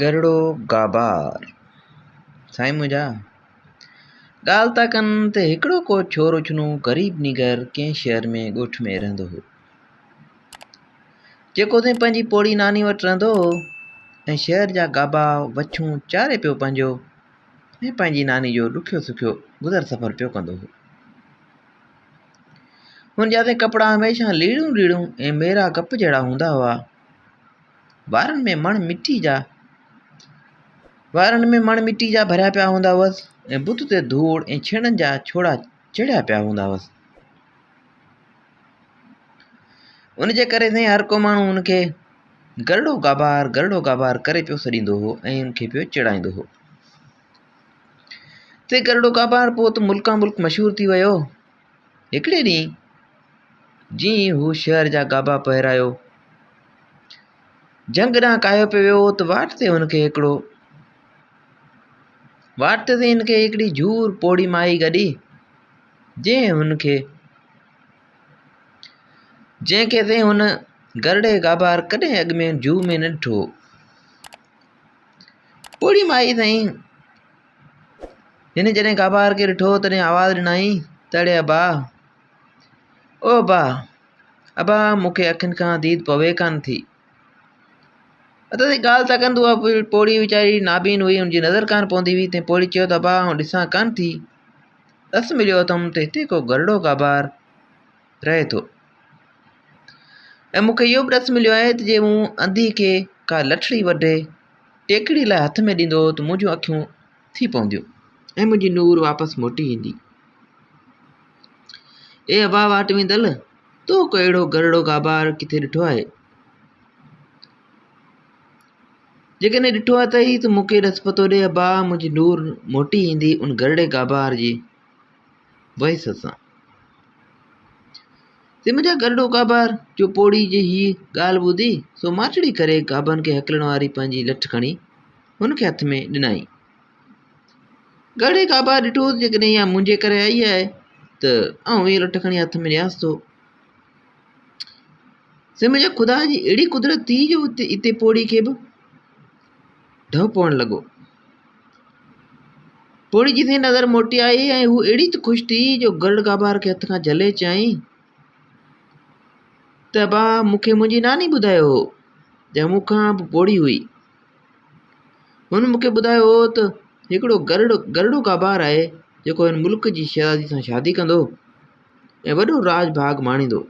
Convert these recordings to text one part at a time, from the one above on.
گرڙو گابار، سائين منهنجا! ڳالهه ٿا ڪن ته هڪڙو ڪو ڇور اڇنو غريب نينگر ڪنهن شهر ۾ ڳوٺ ۾ رهندو هو. جيڪو ٿين پنهنجي پوڙهي ناني وٽ رهندو هو ۽ شهر جا گابا وڇون چاري پيو پنهنجو ۽ پنهنجي ناني جو ڏکيو سکيو گذر سفر پيو ڪندو هو. هن جا ته ڪپڙا هميشه ليڙون ليڙون ۽ ميرا گپ جهڙا هوندا هئا. وارن ۾ مڻ مٽيء جا وارن ۾ مڻ مٽيء جا ڀريا پيا هوندا هئس ۽ بت تي ڌوڙ ۽ ڇيڻن جا ڇوڙا چڙهيا پيا هوندا هئس ان جي ڪري سائين هر ڪو ماڻهو ان کي گرڙو گابار گرڙو گابار ڪري پيو سڏيندو هو ۽ ان کي پيو چڙائيندو هو تي گرڙو گابار پوء ته ملڪان ملڪ مشهور ٿي ويو هڪڙي ڏينهن جيئن ئي هو شهر جا گابا پهرايو جنگ ڏانهن ڪاهيو پيو ويو ته واٽ تي هن کي هڪڙو واٽ تي هن کي هڪڙي جھور پوڙهي مائي گڏي جنهن هن کي جنهن کي تي هن گرڙي گابار ڪڏهن اڳ ۾ جوء ۾ نه ڏٺو پوڙهي مائي سائين هن جڏهن ڪابار کي ڏٺو تڏهن آواز ڏنائين ته اڙي ابا او ابا ابا مون کي اکين کان ديد پوي ڪانه ٿي اتي تائين ڳالهه ٿا ڪن ته اها پوڙهي ويچاري نابين هئي ان جي نظر ڪانه پوندي هئي تنهن پوڙهي چيو ته ابا آئون ڏسان ڪانه ٿي رس مليو اٿم ته هتي ڪو گرڙو ڪابار رهي ٿو ۽ مون کي اهو به ڏس مليو آهي ته جي مون انڌي کي ڪا لٺڙي وڍي ٽيڪڙي لاء هٿ ۾ ڏيندو هو ته منهنجون اکيون ٿي پونديون ۽ منهنجي نور واپس موٽي ايندي اي ابا واٽ ويندل تو ڪو اهڙو گرڙو گابار ڪٿي ڏٺو آهي جيڪڏهن ڏٺو اٿئي ته مون کي ڏس پتو ڏي ابا منهنجي نور موٽي ايندي ان گرڙي گابار جي ويس اسان سم جا گرڊو ڪابار جو پوڙهي جي هيء ڳالهه ٻڌي سو ماٺڙي ڪري ڪابن کي هڪلڻ واري پنهنجي لٺ کڻي هن کي هٿ ۾ ڏنائين گرڙي ڪابار ڏٺو جيڪڏهن اها منهنجي ڪري آئي آهي ته آئون هيء لٺ کڻي هٿ ۾ ڏيانس ٿو سم جا خدا جي اهڙي قدرت ٿي جو هتي هتي پوڙهي کي به ڍؤ پوڻ لڳو. پوڙهي جي سين نظر موٽي آئي ۽ هوء اهڙي ته خوش ٿي جو گرڙ گابار کي هٿ کان جهلي چيائين ته ابا مون کي منهنجي ناني ٻڌايو هو جا مون کان به پوڙهي هئي. هن مون کي ٻڌايو هو ته هڪڙو گرڙ گرڙو گابار آهي جيڪو هن ملڪ جي شهزادي سان شادي ڪندو ۽ وڏو راڄ ڀاڳ ماڻيندو.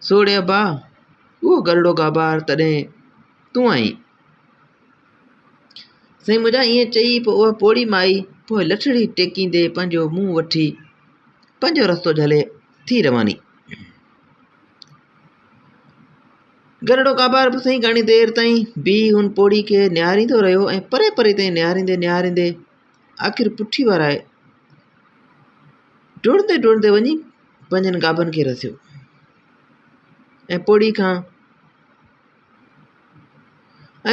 سوڙهي ابا! اهو گرڙو گابار تڏهن تون آهين؟ سائين منهنجا ائين چئي پوء اها پوڙهي مائي پوء لٺڙي ٽيڪيندي پنهنجو منهن وٺي پنهنجو رستو جهلي ٿي رواني. گرڙو گابار به سائين گهڻي دير تائين بيهي هن پوڙهي کي نهاريندو رهيو ۽ پري پري تائين نهاريندي نهاريندي آخر پٺي وارائي ڊوڙندي ڊوڙندي وڃي پنهنجن گابن کي رسيو ۽ پوڙهي کان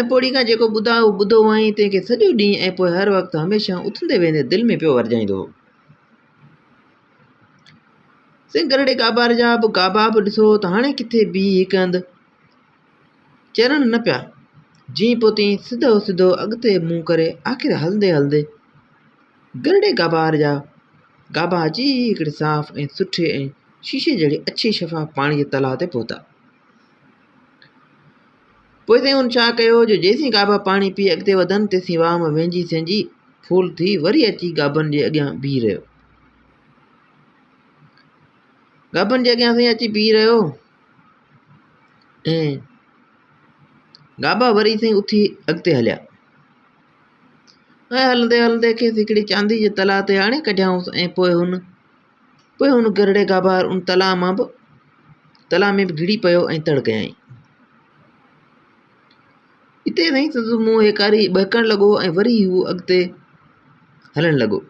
۽ پوڙهي کان جيڪو ٻڌا هو ٻڌو هئائين تنهن کي سڄو ڏينهن ۽ پوء هر وقت هميشه اٿندي ويهندي دل ۾ پيو ورجائيندو هو سنگهرڙي گابار جا به گابا به ڏسو ته هاڻي ڪٿي بيهي هڪ هنڌ چرڻ نه پيا، جيئن پوتين سڌو سڌو اڳتي منهن ڪري آخر هلندي هلندي گرڙي گابار جا گابا اچي هڪڙي صاف ۽ سٺي ۽ شيشي جهڙي اڇي شفاف پاڻي جي تلاء تي پهتا. پوء سائين هن ڇا ڪيو جو جيسين گابا پاڻي پي اڳتي وڌن تيسين واهه مان وهنجي سهنجي ڦول ٿي وري اچي گابن جي اڳيان بيهي رهيو. گابن جي اڳيان سائين اچي بيهي رهيو ۽ گابا وري سائين اٿي اڳتي هليا ۽ هلندي هلندي کيس هڪڙي چاندي جي تلاء تي آڻي ڪڍيائونس ۽ پوء هن پوء هن گرڙي گابا ان تلاء مان به تلاء ۾ به گھڙي پيو ۽ تڙ ڪيائين اتي سائين سندس منهن هيڪاري ٻهڪڻ لڳو ۽ وري هو اڳتي هلڻ لڳو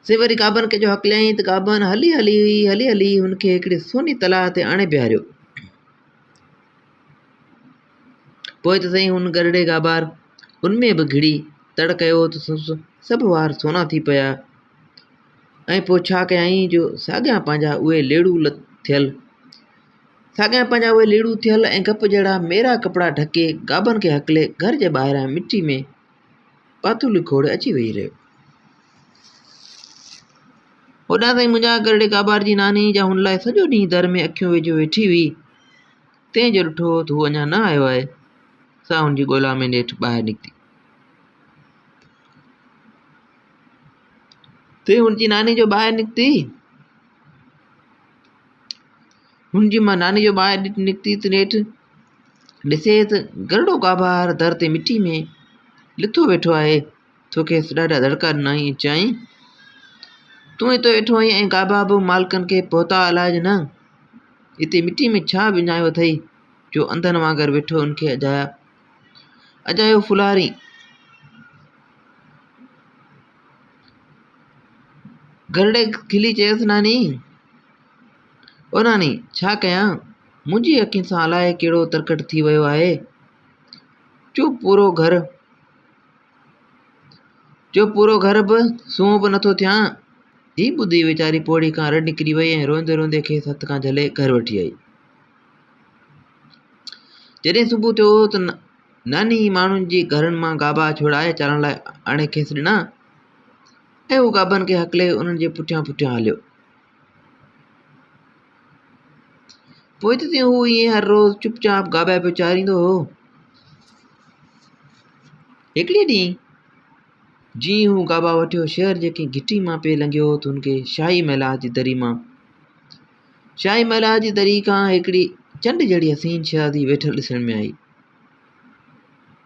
سي وري گابن کي جو هڪليائين ته گابن هلي هلي هلي هلي هن کي هڪڙي سوني تلاء تي آڻي بيهاريو. پوء ته سائين هن گرڙي گابار ان ۾ به گهڙي تڙ ڪيو ته سس سڀ وار سونا ٿي پيا ۽ پوء ڇا ڪيائين جو ساڳيان پنهنجا اهي ليڙو لت ٿيل ساڳيان پنهنجا اهي ليڙو ٿيل ۽ گپ جهڙا ميرا ڪپڙا ڍڪي گابن کي هڪلي گهر جي ٻاهران مٽي ۾ پاتولي کوڙ اچي ويهي رهيو. هوڏانهن تائين منهنجا گرڙي ڪابار جي ناني جا هن لاء سڄو ڏينهن در ۾ اکيون وجهيو ويٺي هئي. تنهن جو ڏٺو ته هو اڃا نه آيو آهي. سا هن جي ڳولا ۾ نيٺ ٻاهر نڪتي. تنهن هن جي ناني جو ٻاهر نڪتي. هن جي مان ناني جو ٻانهن ڏٺ نڪتي ته نيٺ ڏسي ته گرڙو گابهار در تي مٽي ۾ لٿو ويٺو آهي. ٿو کيس ڏاڍا دڙڪا ڏنائين ۽ چيائين، تون اتي ويٺو آهين ۽ گابها به مالڪن کي پهتا الاج نه! اتي مٽي ۾ ڇا وڃايو اٿئي جو انڌن وانگر ويٺو ان کي اجايا اجايو ڦولارين! گرڙي کلي چيس، ناني! او ناني! ڇا ڪيان؟ منهنجي اکين سان الاء ڪهڙو ترڪٽ ٿي ويو آهي. جو پورو گهر جو پورو گهر به سنهو به نٿو ٿيان. هي ٻڌي ويچاري پوڙهي کان رڙ نڪري وئي ۽ روئندي روئندي کيس هٿ کان جهلي گهر وٺي آئي. جڏهن صبح ٿيو ته ناني ماڻهن جي گهرن مان گابا ڇوڙائي چارڻ لاء آڻي کيس ڏنا ۽ هو گابن کي هڪلي انهن جي پٺيان پٺيان هليو. پوء ته تيئن هو ائين هر روز چپ چاپ گابي پيو چاريندو هو. هڪڙي ڏينهن جيئن هو گابا وٺيو شهر جي ڪنهن گهٽي مان پئي لنگهيو ته هن کي شاهي محلات جي دري مان شاهي محلات جي دري کان هڪڙي چنڊ جهڙي حسين شهزادي ويٺل ڏسڻ ۾ آئي.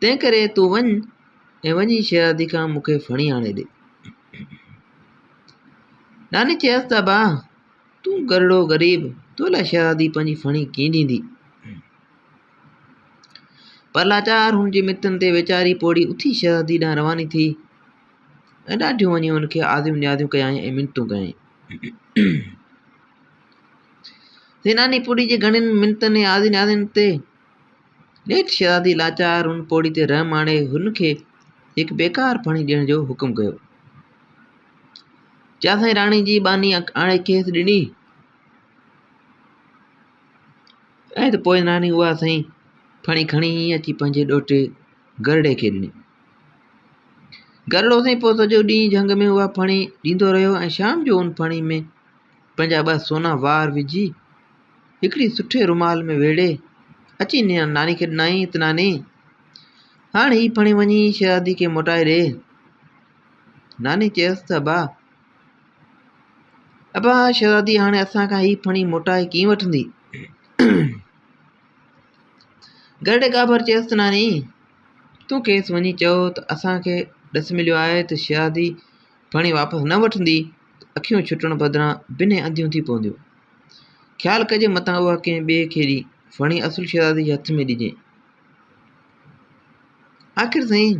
تنهن ڪري تون وڃ ۽ وڃي شهزادي کان مون کي ڦڻي آڻي ڏي ناني چيس ته ابا تون گرڙو غريب تو لاء شهزادي پنهنجي ڦڻي ڪيئن ڏيندي پر لاچار هن جي متن تي ويچاري پوڙي اٿي شهزادي ڏانهن رواني ٿي ۽ ڏاڍيون وڃي هن کي آديون نياديون ڪيائين ۽ منتون ڪيائين سيناني پوڙهي جي گهڻين منتن ۽ آزين آزين تي نيٺ شهزادي لاچار ان پوڙهي تي رحم آڻي هن کي هڪ بيڪار ڦڻي ڏيڻ جو حڪم ڪيو جا سائين راڻي جي ٻانهي آڻي کيس ڏني ۽ ته پوء ناني اها سائين ڦڻي کڻي اچي پنهنجي ڏوهٽي گرڙي کي ڏني گرڙو سائين پوء سڄو ڏينهن جهنگ ۾ اها ڦڻي ڏيندو رهيو ۽ شام جو ان ڦڻي ۾ پنهنجا ٻه سونا وار وجهي، هڪڙي سٺي رومال ۾ ويڙهي، اچي ناني کي ڏنائين ته ناني، هاڻ هي ڦڻي وڃي شهزادي کي موٽائي ڏي. ناني چيس ته ابا، ابا شهزادي هاڻي اسان کان هي ڦڻي موٽائي ڪيئن وٺندي؟ گرڙي ڳاڀر چيس ته ناني، تون کيس وڃي چئو ته اسان کي ڏس مليو آهي ته شهزادي ڦڻي واپس نه وٺندي. اکيون ڇٽڻ بدران بنهه انڌيون ٿي پونديون. خيال ڪجي متان اها ڪنهن ٻئي کي ڏي ڦڻي اصل شهزادي جي هٿ ۾ ڏجي. آخر سائين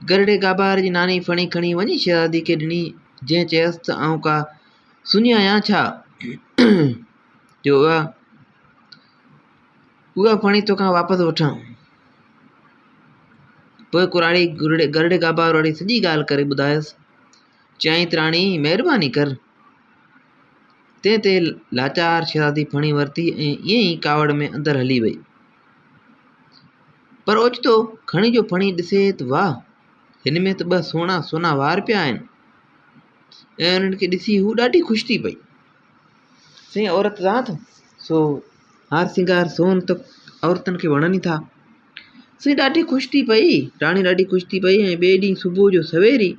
گرڙي گابار جي ناني ڦڻي کڻي وڃي شهزادي کي ڏني جنهن چيس ته آئون ڪا سڃي آهيان ڇا جو اها اها ڦڻي توکان واپس وٺان. پوء ڪراڙي گرڙي گابار واري سڄي ڳالهه ڪري ٻڌايس. چيائين تراڻي مهرباني ڪر. تنهن تي لاچار شهزادي ڦڻي ورتي ۽ ائين ئي ڪاوڙ ۾ اندر هلي وئي. پر اوچتو کڻي جو ڦڻي ڏسي ته واهه هن ۾ ته ٻه سهڻا سونا وار پيا آهن ۽ انهن کي ڏسي هو ڏاڍي خوش ٿي پئي. سين عورت ذات سو هار سينگار سون ته عورتن کي وڻن ئي ٿا. سين ڏاڍي خوش ٿي پئي، راڻي ڏاڍي خوش ٿي پئي ۽ ٻئي ڏينهن صبح جو سوير ئي،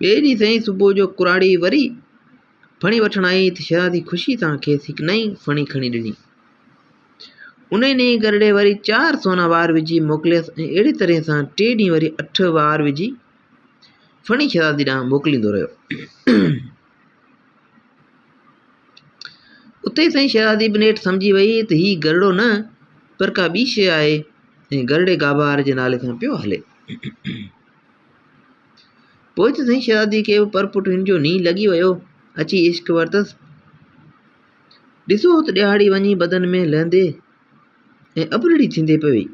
ٻئي ڏينهن سين صبح جو ڪراڙي وري ڦڻي وٺڻ آئي ته شهزادي خوشي سان کيس هڪ نئين ڦڻي کڻي ڏني. انهي ڏينهن گرڙي وري چار سونا وار وجهي موڪليس ۽ اهڙي طرح سان ٽي ڏينهن وري اٺ وار وجهي فني شهزادي ڏانهن موڪليندو رهيو. اتي سائين شهزادي به نيٺ سمجهي وئي ته هي گرڙو نه پر ڪا ٻي شيء آهي ۽ گرڙي گابار جي نالي سان پيو هلي پوء ته سائين شهزادي کي به پر پٽ هن جو ني لڳي ويو اچي عشق ورتس ڏسو ته ڏيهاڙي وڃي بدن ۾ لهندي ۽ ابرڙي ٿيندي پئي وئي.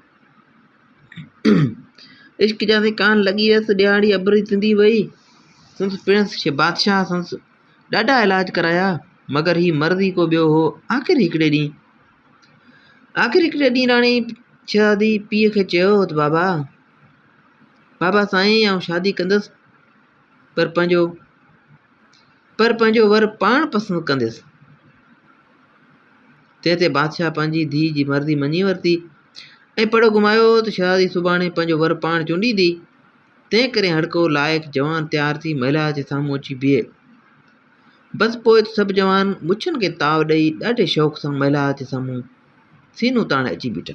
عشق جا سائين ڪان لڳي ويس، ڏيهاڙي ابرڙي ٿيندي وئي. سندس پڻس بادشاهه سندس ڏاڍا علاج ڪرايا، مگر هي مرض ئي ڪو ٻيو هو. آخر هڪڙي ڏينهن آخر هڪڙي ڏينهن راڻي شهزادي پيء کي چيو ته بابا، بابا سائين آئون شادي ڪندس. پر پنهنجو پر پنهنجو ور پاڻ پسند ڪنديس تنهن تي بادشاهه پنهنجي ڌيء جي مرضي مڃي ورتي ۽ پڙهو گهمايو ته شهزادي سڀاڻي پنهنجو ور پاڻ چونڊيندي تنهن ڪري هڙڪو لائق جوان تيار ٿي مهلا جي سامهون اچي بيهي بس پوء ته سڀ جوان مڇن کي تاو ڏيئي ڏاڍي شوق سان مهلا جي سامهون سينو تاڻي اچي بيٺا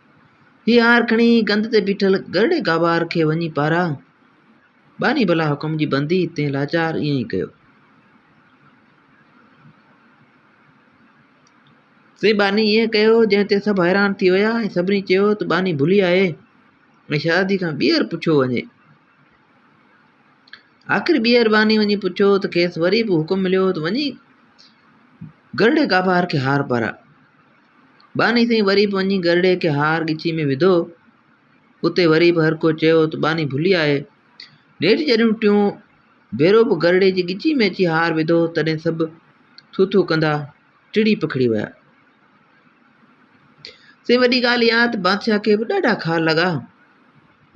هي آهر کڻي ڪنڌ تي بيٺل گرڙي گابار کي وڃي پارا. ٻانهي بلا حڪم جي بندي تنهن لاچار ائين ئي ڪيو. سي ٻانهي ائين ڪيو جنهن تي سڀ حيران ٿي ويا ۽ سڀني چيو ته ٻانهي ڀلي آهي ۽ شهزادي کان ٻيهر پڇيو وڃي. آخر ٻيهر ٻانهي وڃي پڇيو ته کيس وري به حڪم مليو ته وڃي گرڙي گابار کي هار پارا. ٻانهي سائين وري به وڃي گرڙي کي هار ڳچي ۾ وڌو. اتي وري به هر ڪو چيو ته ٻانهي ڀلي آهي. نيٺ جڏهن ٽيون ڀيرو به گرڙي جي ڳچي ۾ اچي هار وڌو تڏهن سڀ ٿو ٿو ڪندا ٽڙي پکڙي ويا. سائين وڏي ڳالهه اها ته بادشاهه کي به ڏاڍا کار لڳا.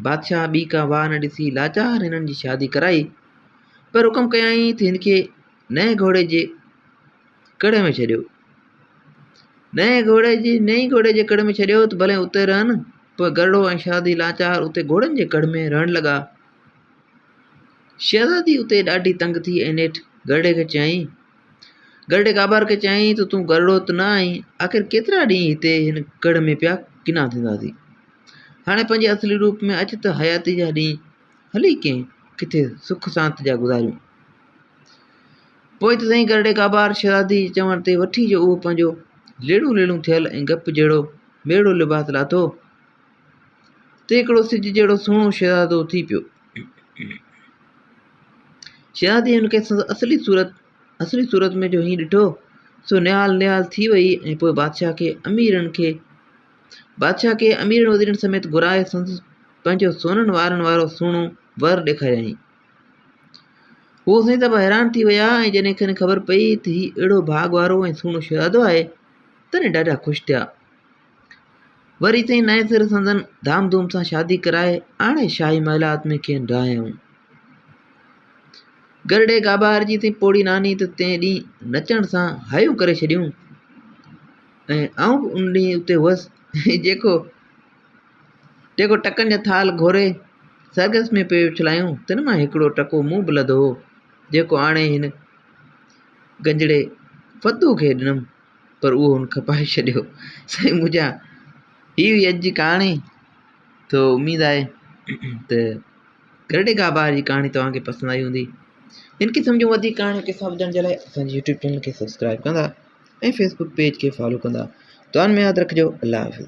بادشاهه ٻي ڪا واهه نه ڏسي لاچار هنن جي شادي ڪرائي پر حڪم ڪيائين ته هن کي نئين گهوڙي جي ڪڙهه ۾ ڇڏيو نئين گهوڙي جي نئين گهوڙي جي ڪڙهه ۾ ڇڏيو ته ڀلي اتي رهن پر گرڙو ۽ شهزادي لاچار اتي گهوڙن جي ڪڙهه ۾ رهڻ لڳا شهزادي اتي ڏاڍي تنگ ٿي ۽ نيٺ گرڙي کي چيائين گرڙي ڪابار کي چيائين ته تون گرڙو ته نه آهين آخر ڪيترا ڏينهن هتي هن ڪڙهه ۾ پيا ڪنا ٿينداسي هاڻي پنهنجي اصلي روپ ۾ اچ ته حياتي جا ڏينهن هلي ڪنهن ڪٿي سک سانت جا گذاريون پوء ته سائين ڪرڙي ڪابار شھزادي جي چوڻ تي وٺي جو اھو پنھنجو ليڙون ليڙون ٿيل ۽ گپ جھڙو ميڙو لباس لاٿو ته ھڪڙو سج جھڙو سھڻو شھزادو ٿي پيو. شھزادي ھن کي سندس اصلي صورت اصلي صورت ۾ جو ھينئن ڏٺو سو نھال نھال ٿي وئي ۽ پوء بادشاھھ کي اميرن کي بادشاھھ کي اميرن وزيرن سميت گھرائي سندس پنھنجو سونھن وارن وارو سھڻو ور ڏيکاريائين. هو سائين صاحب حيران ٿي ويا ۽ جڏهن کين خبر پئي ته هي اهڙو ڀاڳ وارو ۽ سهڻو شهزادو آهي تڏهن ڏاڍا خوش ٿيا وري سائين نئين سر سندن ڌام ڌوم سان شادي ڪرائي آڻي شاهي محلات ۾ کين رهايائون گرڙي گابار جي سائين پوڙهي ناني ته تنهن ڏينهن نچڻ سان هايون ڪري ڇڏيون ۽ آئون به ان ڏينهن اتي هئس جيڪو جيڪو ٽڪن جا ٿالهه گهوري سرگس ۾ پيو اڇلايون، تن مان هڪڙو ٽڪو مون به لڌو هو، جيڪو آڻي هن گنجڙي فتوح کي ڏنم، پر اهو هن کپائي ڇڏيو. سائين منهنجا هي هئي اڄ جي ڪهاڻي تو اميد آهي ته گرڊي گاهه بهار جي ڪهاڻي توهان کي پسند آئي هوندي ان کي سمجهو وڌيڪ ڪهاڻي قصا ٻڌڻ جي لاء اسان جي يوٽيوب چينل کي سبسڪرائب ڪندا ۽ فيسبوڪ پيج کي فالو ڪندا دعائن ۾ ياد رکجو الله حافظ